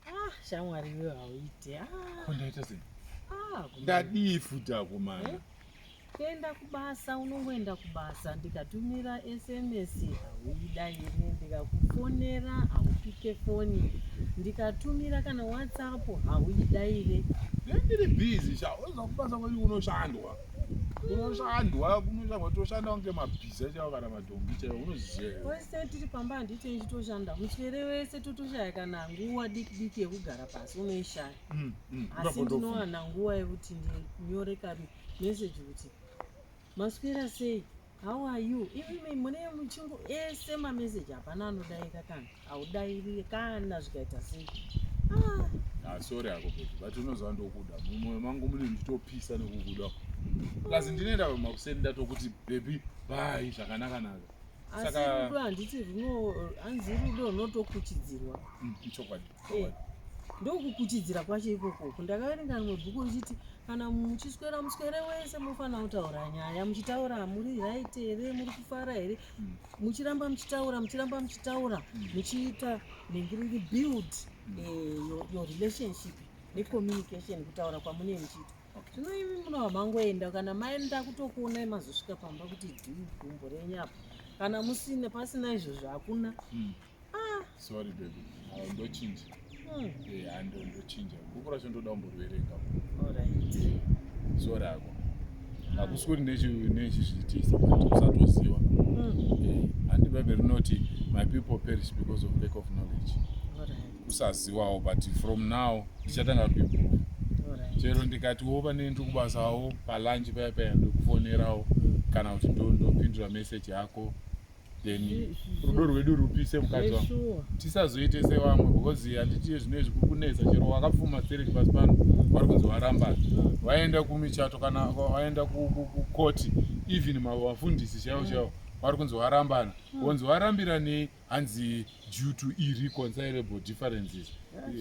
Ah, shamwari iwe hauite. Ah. Ko ndaita sei? Ah, kuno- Ndadii futi akomana? Eh? kuenda kubasa unongoenda kubasa ndikatumira sms hauidairi ndikakufonera haupike foni ndikatumira kana whatsapp hauidaire Ndiri busy sha, unoziva kubasa kwedu kunoshandwa. Kunoshandwa, kunoshandwa toshanda kunge mabhiza chaiwo kana ma wese tiri pamba handiite ndichitoshanda muswere wese totoshaya kana nguva diki diki yekugara pasi unoishaya mm, mm, asi ndinowana nguva yekuti ndinyore kari meseji kuti maswera sei how are you imi mune muchingo ese mameseji hapana anodaika kana haudairire kana zvikaita sei ah. ah, sorry ako beti but unoziva ndokuda mumoyo mangu mune nditopisa nekukuda plus ndinoenda makuseni ndatokuti bebi bhai zvakanakanaka asi rudo handiti runo hanzi rudo runotokuchidzirwa mm, ichokwadi eh, ndokukuchidzira kwacho ikokoko ndakaverenga rimwe bhuku richiti kana muchiswera muswere wese mofanira kutaura nyaya muchitaura muri right here muri kufara here mm. muchiramba muchitaura muchiramba muchitaura mm. muchiita nengiringi build mm. eh, your, your relationship necommunication kutaura kwamune muchiita zvino okay. imi munova mangoenda kana maenda kutokuonai mazosvika pamba kuti dhii gumbo renyu apo kana musina pasina izvozvo hakuna mm. ah. sorry baby ah, ndochinja hmm. eh, hando ndochinja bhuku racho ndoda kumborwerenga so rako hakusi kuti nechizviitisa usatoziva handi hmm. eh, bhaibheri rinoti my people perish because of lack of knowledge kusaziwawo but from now ndichatanga kuimprove chero ndikati wo pane ndiri kubasawo palanji paya paya ndikufonerawo kana kuti ndopindura meseji yako then rudo rwedu rupise mukadzi wangu tisazoite sevamwe because handitiye zvino izvi kukunetsa chero wakapfuma stereki pasi pano vari kunzi varambana vaenda kumichato kana vaenda kukoti even mavafundisi chaivo chaivo vari kunzi varambana vonzi varambira nei hanzi due to irreconcilable differences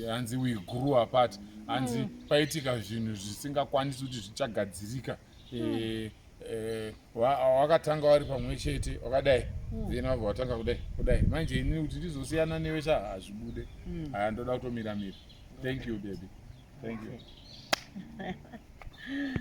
hanzi we grew apart hanzi paitika zvinhu zvisingakwanisi kuti zvichagadzirika eh, eh, wakatanga wari pamwe chete wakadai hmm. then wabva watanga kudai kudai manje ini kuti ndizosiyana newe cha hazvibude hmm. haya ndoda kutomira mira thank you baby thank you